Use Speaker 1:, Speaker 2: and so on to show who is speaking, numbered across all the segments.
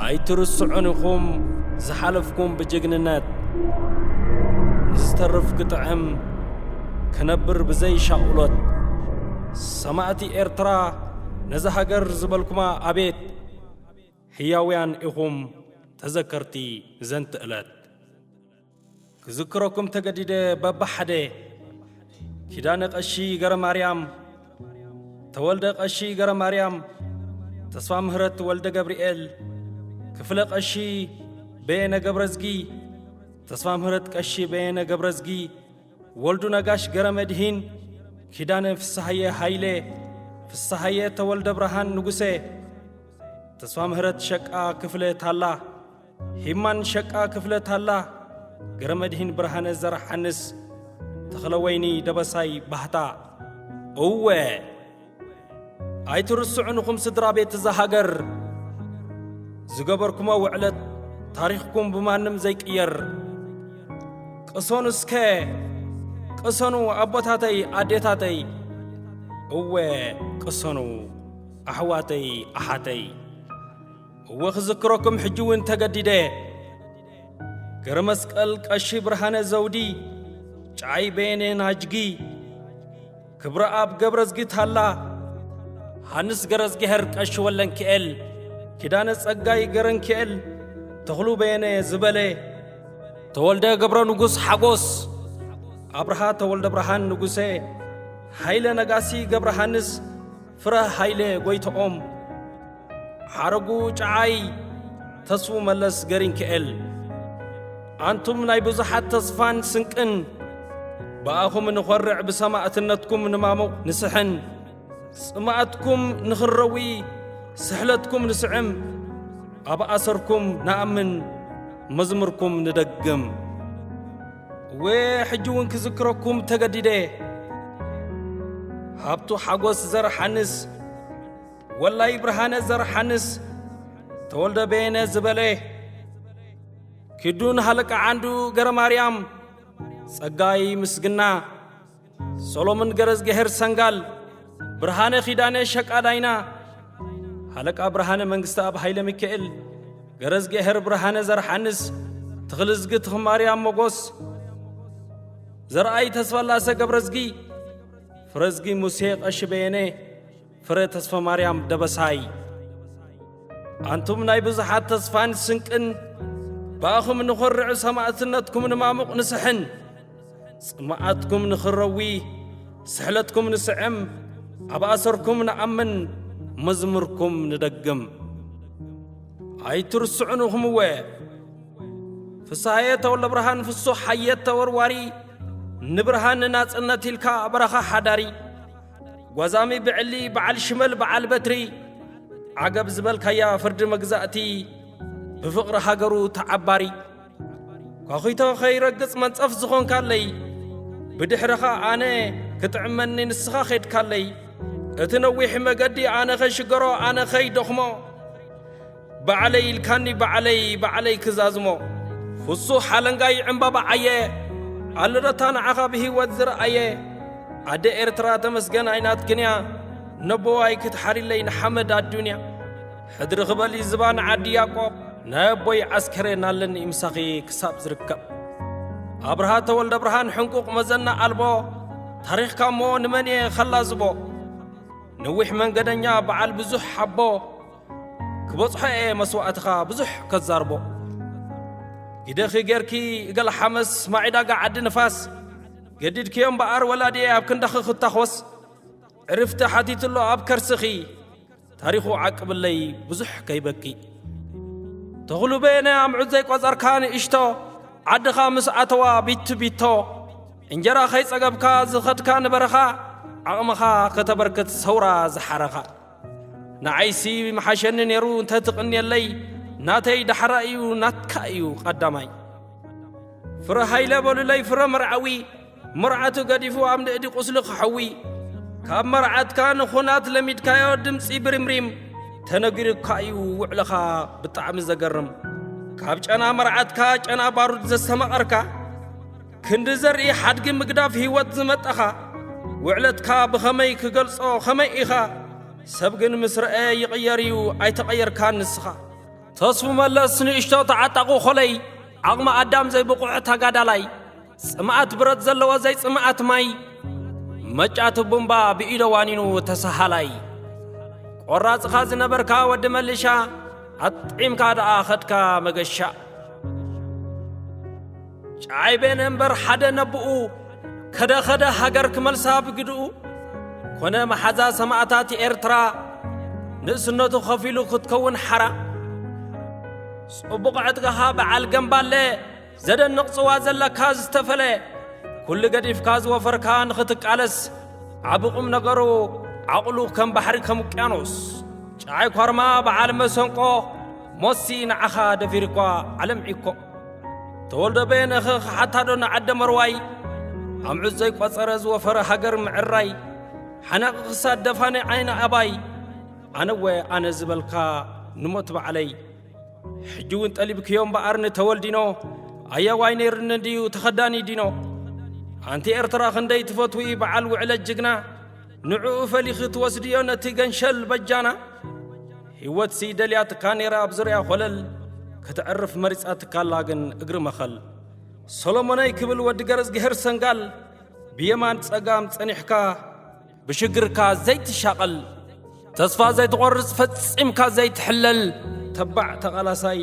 Speaker 1: ኣይትርስዑን ኢኹም ዝሓለፍኩም ብጅግንነት ንዝተርፍ ክጥዕም ክነብር ብዘይ ሻቕሎት ሰማእቲ ኤርትራ ነዛ ሃገር ዝበልኩማ ኣቤት ሕያውያን ኢኹም ተዘከርቲ ዘንቲ እለት ክዝክረኩም ተገዲደ በብሓደ ኪዳነ ቀሺ ገረማርያም ተወልደ ቀሺ ገረማርያም ተስፋ ምህረት ወልደ ገብርኤል ክፍለ ቀሺ በየነ ገብረዝጊ ተስፋ ምህረት ቀሺ በየነ ገብረዝጊ ወልዱ ነጋሽ ገረ መድሂን ኪዳነ ፍስሃየ ሃይለ ፍስሃየ ተወልደ ብርሃን ንጉሰ ተስፋ ምህረት ሸቃ ክፍለ ታላ ሂማን ሸቃ ክፍለ ታላ ገረመድሂን ብርሃነ ዘርሓንስ ተኽለወይኒ ደበሳይ ባህታ እወ ኣይትርስዑንኹም ስድራ ቤት እዛ ሃገር ዝገበርኩሞ ውዕለት ታሪኽኩም ብማንም ዘይቅየር ቅሰኑ እስከ ቅሰኑ ኣቦታተይ ኣዴታተይ እወ ቅሰኑ ኣሕዋተይ ኣሓተይ እወ ክዝክረኩም ሕጂ እውን ተገዲደ እየ። ገረ መስቀል ቀሺ ብርሃነ ዘውዲ፣ ጨዓይ በየነ ናጅጊ፣ ክብረኣብ ገብረዝጊ ታላ፣ ዮሃንስ ገረዝጊሀር ቀሺ ወለንኪኤል፣ ኪዳነ ጸጋይ ገረንኪኤል፣ ተኽሉ በየነ ዝበለ፣ ተወልደ ገብረ ንጉሥ ሓጎስ፣ ኣብርሃ ተወልደ ብርሃን ንጉሴ፣ ሃይለ ነጋሲ ገብረሃንስ፣ ፍረ ሃይለ ጎይትኦም፣ ሓረጉ ጨዓይ፣ ተስፉ መለስ ገሪንክኤል፣ ኣንቱም ናይ ብዙሓት ተስፋን ስንቅን፣ ብኣኹም ንኾርዕ ብሰማእትነትኩም ንማሙቕ ንስሕን፣ ጽምኣትኩም ንኽንረዊ ስሕለትኩም ንስዕም፣ ኣብ ኣሰርኩም ንኣምን መዝሙርኩም ንደግም። እወ ሕጂ እውን ክዝክረኩም ተገዲደ እየ ሃብቱ ሓጎስ ዘርሓንስ ወላይ ብርሃነ ዘርሓንስ ተወልደ በየነ ዝበለ ኪዱን ሃለቃ ዓንዱ ገረ ማርያም ጸጋይ ምስግና ሰሎምን ገረዝገሄር ሰንጋል፣ ብርሃነ ኪዳነ ሸቃዳይና፣ ሃለቃ ብርሃነ መንግስተኣብ ሃይለ ሚካኤል፣ ገረዝገሄር ብርሃነ ዘርሓንስ፣ ትኽልዝጊ ትኽማርያም ሞጎስ፣ ዘርኣይ ተስፋላሰ ገብረዝጊ፣ ፍረዝጊ ሙሴ ቀሺ በየነ፣ ፍረ ተስፈማርያም ደበሳይ ኣንቱም ናይ ብዙሓት ተስፋን ስንቅን ብኣኹም ንኾርዕ ሰማእትነትኩም ንማሙቕ ንስሕን ጽማኣትኩም ንኽረዊ ስሕለትኩም ንስዕም ኣብ ኣሰርኩም ንኣምን መዝሙርኩም ንደግም ኣይትርስዑንኹም እወ ፍስሃየ ተወልደ ብርሃን ፍሱሕ ሓየት ተወርዋሪ ንብርሃን ናጽነት ኢልካ በረኻ ሓዳሪ ጓዛሚ ብዕሊ በዓል ሽመል በዓል በትሪ ዓገብ ዝበልካያ ፍርዲ መግዛእቲ ብፍቕሪ ሃገሩ ተዓባሪ ኳኺቶ ኸይረግጽ መንጸፍ ዝኾንካለይ ብድኅረኻ ኣነ ክጥዕመኒ ንስኻ ኼድካለይ እቲ ነዊሕ መገዲ ኣነ ኸይሽገሮ ኣነ ኸይደኽሞ ባዕለይ ኢልካኒ ባዕለይ ባዕለይ ክዛዝሞ ፍሱሕ ሓለንጋይ ዕምባባ ዓየ ኣልረታ ንዓኻ ብህይወት ዝረኣየ ኣደ ኤርትራ ተመስገን ኣይናትክንያ ነቦዋይ ክትሓሪለይ ንሓመድ ኣዱንያ ሕድሪ ክበሊ ዝባ ንዓዲ ያቆብ ናይ ኣቦይ ዓስከሬን ኣለኒ ምሳኺ ክሳብ ዝርከብ ኣብርሃ ተወልደ ብርሃን ሕንቁቕ መዘና ኣልቦ ታሪኽካ እሞ ንመን እየ ኸላዝቦ ነዊሕ መንገደኛ በዓል ብዙሕ ሓቦ ክበጽሖ እየ መስዋእትኻ ብዙሕ ከዛርቦ ኢደኺ ጌርኪ እገል ሓመስ ማዒዳጋ ዓዲ ንፋስ ገዲድክዮ እምበኣር ወላዲየ ኣብ ክንዳኺ ክታኾስ ዕርፍቲ ሓቲትሎ ኣብ ከርስኺ ታሪኹ ዓቅብለይ ብዙሕ ከይበኪ ተኽሉ በየነ ኣምዑት ዘይቈጸርካ ንእሽቶ ዓድኻ ምስ ኣተዋ ቢቲ ቢቶ እንጀራ ኸይጸገብካ ዝኸድካ ንበረኻ ዓቕምኻ ከተበርክት ሰውራ ዝሓረኻ ንዓይሲ ምሓሸኒ ነይሩ እንተትቕንየለይ ናተይ ዳሕራ እዩ ናትካ እዩ ቐዳማይ ፍረ ሃይለ በሉለይ ፍረ መርዓዊ መርዓቱ ገዲፉ ኣብ ንእዲ ቁስሊ ክሐዊ ካብ መርዓትካ ንኹናት ለሚድካዮ ድምፂ ብሪምሪም ተነጊሩካ እዩ ውዕልኻ ብጣዕሚ ዘገርም ካብ ጨና መርዓትካ ጨና ባሩድ ዘስተማቐርካ ክንዲ ዘርኢ ሓድጊ ምግዳፍ ህይወት ዝመጠኻ ውዕለትካ ብኸመይ ክገልጾ ኸመይ ኢኻ ሰብ ግን ምስ ረአ ይቕየር እዩ ኣይተቐየርካን ንስኻ ተስፉ መለስ ንእሽቶ ተዓጣቑ ኾለይ ዓቕሚ ኣዳም ዘይብቑዕ ተጋዳላይ ጽምኣት ብረት ዘለዎ ዘይጽምኣት ማይ መጫቲ ቡምባ ብኢዶ ዋኒኑ ተሰሃላይ ቈራጽኻ ዝነበርካ ወዲ መልሻ ኣጥዒምካ ደኣ ኸድካ መገሻ ጨዓይቤን እምበር ሓደ ነብኡ ከደ ኸደ ሃገር ክመልሳ ብግድኡ ኮነ መሓዛ ሰማእታት ኤርትራ ንእስነቱ ኸፊሉ ክትከውን ሓራ ጽቡቕ ዕጥቅኻ በዓል ገምባለ ዘደንቕ ጽዋ ዘለካ ዝተፈለ ኩሉ ገዲፍካ ዝወፈርካ ንኽትቃለስ ዓብ ቁም ነገሩ ዓቕሉ ከም ባሕሪ ከም ውቅያኖስ ጨዓይ ኳርማ በዓል መሰንቆ ሞሲ ንዓኻ ደፊርኳ ዓለም ዒኮ ተወልደ በየነኸ ክሓታዶ ንዓደ መርዋይ ኣምዑት ዘይቈጸረ ዝወፈረ ሃገር ምዕራይ ሓናቒ ክሳድ ደፋኒ ዓይኒ ኣባይ ኣነወ ኣነ ዝበልካ ንሞት በዓለይ ሕጂ እውን ጠሊብክዮ እምበኣር ንተወልዲኖ ኣያዋይ ነይርኒ ድዩ ተኸዳኒ ዲኖ ኣንቲ ኤርትራ ክንደይ ትፈትዊ በዓል ውዕለ ጅግና ንዕኡ ፈሊኺ ትወስድዮ ነቲ ገንሸል በጃና ህይወትሲ ደልያትካ ነይራ ኣብ ዙርያ ኾለል ከተዕርፍ መሪጻትካላ ግን እግሪ መኸል ሰሎሞነይ ክብል ወዲ ገረዝግሄር ሰንጋል ብየማን ጸጋም ጸኒሕካ ብሽግርካ ዘይትሻቐል ተስፋ ዘይትቖርጽ ፈጺምካ ዘይትሕለል ተባዕ ተቓላሳይ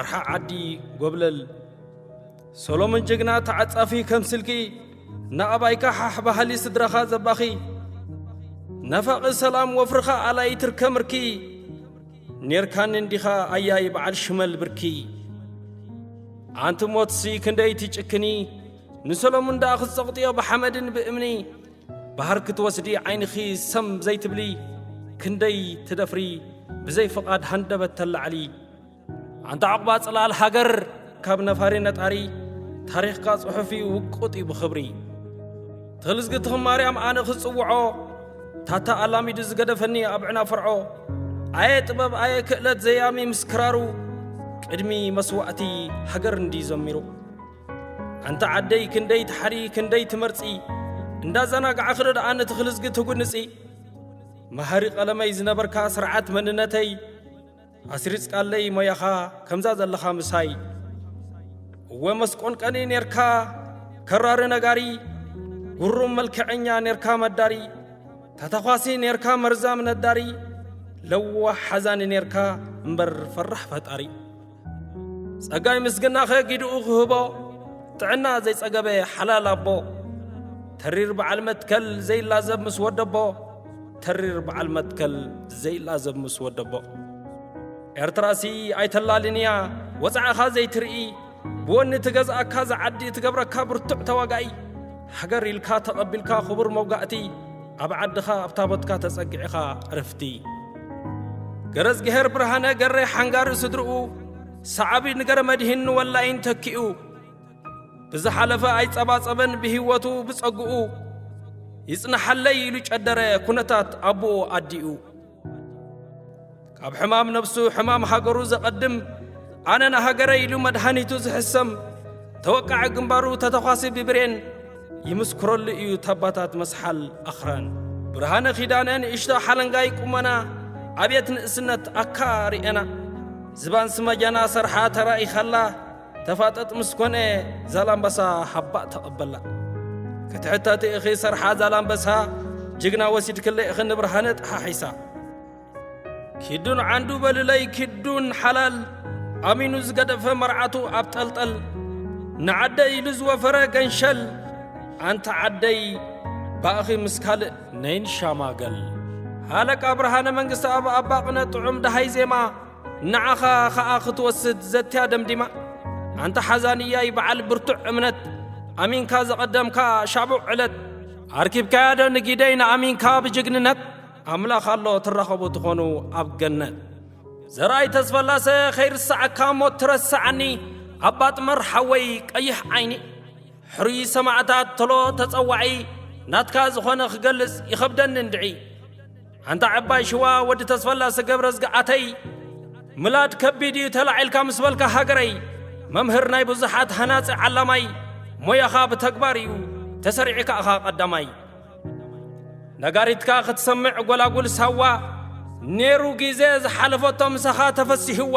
Speaker 1: ኣርሓ ዓዲ ጎብለል ሰሎሞን ጅግና ተዓጻፊ ከም ስልኪ ንኣባይካ ሓሕ በሃሊ ስድራኻ ዘባኺ ነፋቒ ሰላም ወፍርኻ ኣላይ ትርከ ምርኪ ኔርካኒ እንዲኻ ኣያይ በዓል ሽመል ብርኪ ኣንቲ ሞትሲ ክንደይ ትጭክኒ ንሰሎሙን ደኣ ክትጸቕጥዮ ብሓመድን ብእምኒ ባህር ክትወስዲ ዓይንኺ ሰም ዘይትብሊ ክንደይ ትደፍሪ ብዘይ ፍቓድ ሃንደበት ተላዕሊ ኣንታ ዕቑባ ጽላል ሃገር ካብ ነፋሪ ነጣሪ ታሪኽካ ጽሑፍ እዩ ውቁጥ እዩ ብኽብሪ ተልዝግቲ ኽማርያም ኣነ ክጽውዖ ታታ ኣላሚዱ ዝገደፈኒ ኣብ ዕና ፍርዖ ኣየ ጥበብ ኣየ ክእለት ዘያሚ ምስ ክራሩ ቅድሚ መስዋእቲ ሃገር እንዲ ዘሚሩ ኣንታ ዓደይ ክንደይ ትሓሪ ክንደይ ትመርጺ እንዳዘናግዓ ክዶ ደኣ ነቲ ክልዝጊ ትጉንጺ መሃሪ ቐለመይ ዝነበርካ ስርዓት መንነተይ ኣስሪጽካለይ ሞያኻ ከምዛ ዘለኻ ምሳይ እወ መስቆንቀኒ ኔርካ ከራሪ ነጋሪ ጉሩም መልክዐኛ ኔርካ መዳሪ ተተኳሲ ኔርካ መርዛም ነዳሪ ለዋሕ ሓዛኒ ኔርካ እምበር ፈራሕ ፈጣሪ ጸጋይ ምስግናኸ ጊድኡ ክህቦ ጥዕና ዘይጸገበ ሓላል ኣቦ ተሪር በዓል መትከል ዘይላዘብ ምስ ወደቦ ተሪር በዓል መትከል ዘይላዘብ ምስ ወደቦ ኤርትራሲ ኣይተላልን እያ ወፃዕኻ ዘይትርኢ ብወኒ ትገዝኣካ ዝዓዲ እትገብረካ ብርቱዕ ተዋጋኢ ሃገር ኢልካ ተቐቢልካ ክቡር መውጋእቲ ኣብ ዓድኻ ኣብ ታቦትካ ተጸግዕኻ ዕርፍቲ ገረዝግሄር ብርሃነ ገሬ ሓንጋሪ ስድርኡ ሰዓቢ ንገረ መድሂን ንወላይን ተኪኡ ብዝሓለፈ ኣይጸባጸበን ብህይወቱ ብጸግኡ ይጽናሓለይ ኢሉ ጨደረ ኩነታት ኣቦኡ ኣዲኡ ካብ ሕማም ነብሱ ሕማም ሃገሩ ዘቐድም ኣነ ንሃገረ ኢሉ መድሃኒቱ ዝሕሰም ተወቃዒ ግንባሩ ተተኳሲ ብብሬን ይምስክረሉ እዩ ተባታት መስሓል ኣኽራን ብርሃነ ኪዳነ ንእሽቶ ሓለንጋይ ቁመና ኣብየት ንእስነት ኣካ ርኤና ዝባን ስመጃና ሰርሓ ተራኢኻላ ተፋጠጥ ምስ ኮነ ዛላምበሳ ሓባእ ተቐበላ። ክትሕተቲ እኺ ሰርሓ ዛላምበሳ ጅግና ወሲድክለይ እኺ ንብርሃነ ጠሓሒሳ። ኪዱን ዓንዱ በልለይ ኪዱን ሓላል ኣሚኑ ዝገደፈ መርዓቱ ኣብ ጠልጠል ንዓደይ ኢሉ ዝወፈረ ገንሸል ኣንቲ ዓደይ ባእኺ ምስ ካልእ ነይን ሻማገል ሃለቃ ብርሃነ መንግስቲ ኣብ ኣባቕነ ጥዑም ደሃይ ዜማ ንዓኻ ኸኣ ክትወስድ ዘትያ ደምዲማ ኣንታ ሓዛንያይ በዓል ብርቱዕ እምነት ኣሚንካ ዘቐደምካ ሻቡዕ ዕለት ኣርኪብካያ ዶ ንጊደይ ንኣሚንካ ብጅግንነት ኣምላኽ ኣሎ ትራኸቡ ትኾኑ ኣብ ገነት ዘርኣይ ተስፈላሰ ኸይርሳዓካ እሞ ትረስዓኒ ኣባጥመር ሓወይ ቀይሕ ዓይኒ ሕሩይ ሰማዕታት ተሎ ተጸዋዒ ናትካ ዝኾነ ክገልጽ ይኸብደኒ እንድዒ ኣንታ ዓባይ ሽዋ ወዲ ተስፈላሰ ገብረዝግኣተይ ምላድ ከቢድ እዩ ተላዒልካ ምስ በልካ ሃገረይ መምህር ናይ ብዙሓት ሃናጺ ዓላማይ ሞያኻ ብተግባር እዩ ተሰሪዒ ከኣኻ ቀዳማይ ነጋሪትካ ክትሰምዕ ጐላጉል ሳዋ ነይሩ ግዜ ዝሓለፈቶ ምሳኻ ተፈሲህዋ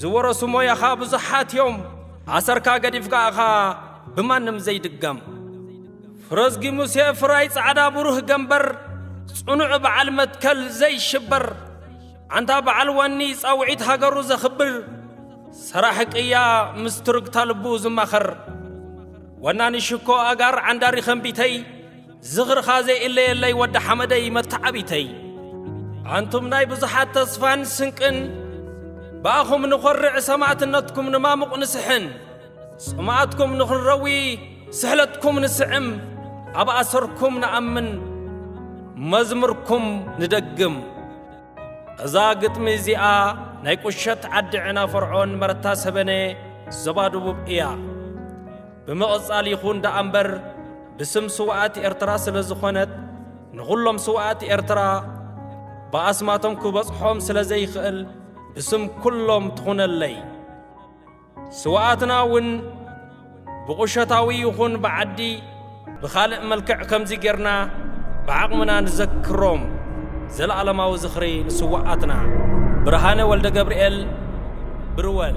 Speaker 1: ዝወረሱ ሞያኻ ብዙሓት እዮም ኣሰርካ ገዲፍካ እኻ ብማንም ዘይድገም ፍረዝጊ ሙሴ ፍራይ ጻዕዳ ብሩህ ገምበር ጽኑዕ በዓል መትከል ዘይሽበር ኣንታ በዓል ዋኒ ጻውዒት ሃገሩ ዘኽብር ሰራሕ ቅያ ምስ ትርግታ ልቡ ዝማኸር ወናኒ ሽኮ ኣጋር ዓንዳሪ ኸምቢተይ ዝኽርኻ ዘይእለየለይ ወዲ ሓመደይ መተዓቢተይ ኣንቱም ናይ ብዙሓት ተስፋን ስንቅን ብኣኹም ንኾርዕ ሰማእትነትኩም ንማሙቕ ንስሕን ጽምኣትኩም ንኽንረዊ ስሕለትኩም ንስዕም ኣብ ኣሰርኩም ንኣምን መዝሙርኩም ንደግም እዛ ግጥሚ እዚኣ ናይ ቁሸት ዓዲ ዕና ፈርዖን መረታ ሰበነ ዞባ ደቡብ እያ ብምቕጻል ይኹን ደኣ እምበር ብስም ስውኣት ኤርትራ ስለ ዝኾነት ንዅሎም ስውኣት ኤርትራ ብኣስማቶም ክበጽሖም ስለ ዘይኽእል ብስም ኵሎም ትኹነለይ ስውኣትና እውን ብቑሸታዊ ይኹን ብዓዲ ብኻልእ መልክዕ ከምዚ ጌርና ብዓቕምና ንዘክሮም። ዘልኣለማዊ ዝኽሪ ንስውኣትና! ብርሃነ ወልደገብርኤል፣ ብርወል።